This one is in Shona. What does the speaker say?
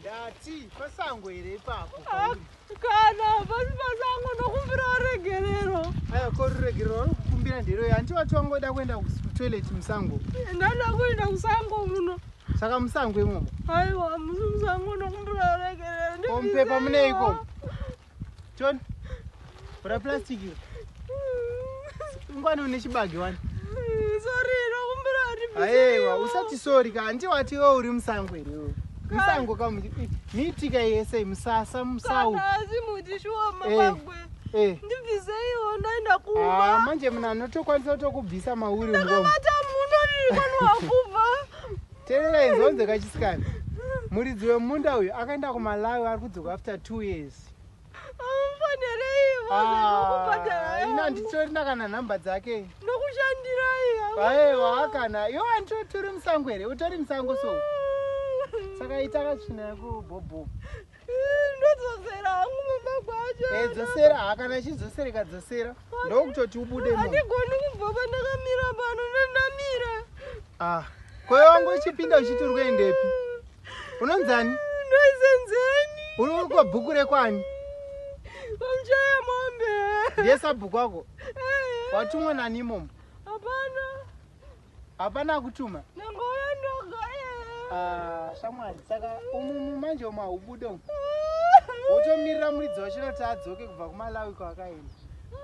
Ndati pasango here ipapo? Ah, kana pasi pasango ndokumbira ruregerero. Aya ko ruregerero wari kukumbira nderoi? Hanti wati wangoda kuenda kutoilet musango? Ndada kuenda kusango muno. Saka musango imomo? Aiwa, musi musango ndokumbira ruregerero. Ko mupepa muneiko? John, bura plastic iri. Ngwani une chibage wani. Sorry, ndokumbira kuti. Aiwa, usati sorry ka, hanti wati iwe uri musango here iwe? Musango ka miti ka yese musasa musawu. Kana asi muti shuwa mabagwe. Eh. eh. Ndibvisei iwo ndaenda kuba. Ah, manje mna anotokwanisa kutokubvisa mauri ngo. Ndakabata muno ndiri kwani wakubva. Terera inzonze kachisikana. Muridzi wemunda uyu akaenda kuMalawi ari kudzoka after two years. Amufanereivo zvekukubhadhara. Ah, ina nditorina kana nhamba dzake. Nokushandirai. Aiwa kana iwe anto turi musango here? Utori musango so. Saka ita katsvina yako bhobho. ndodzosera hangu mumba kwacho eh, dzosera hakana chidzosereka dzosera ndokutoti ubude andigoni kubva pandakamira pano ndandamira ah kweyo wangu uchipinda uchiti uri kuendepi unonzani ndoisenzeni uri kwabhuku rekwani kwamchaya mombe ndiye sabhuku wako eh. watumwe nanimomo hapana akutuma ndangouya ndoga ah, shamwari saka umumu manje umu haubude umu wotomirira muridzi wacho noti adzoke kubva kumalawi kwaakaenda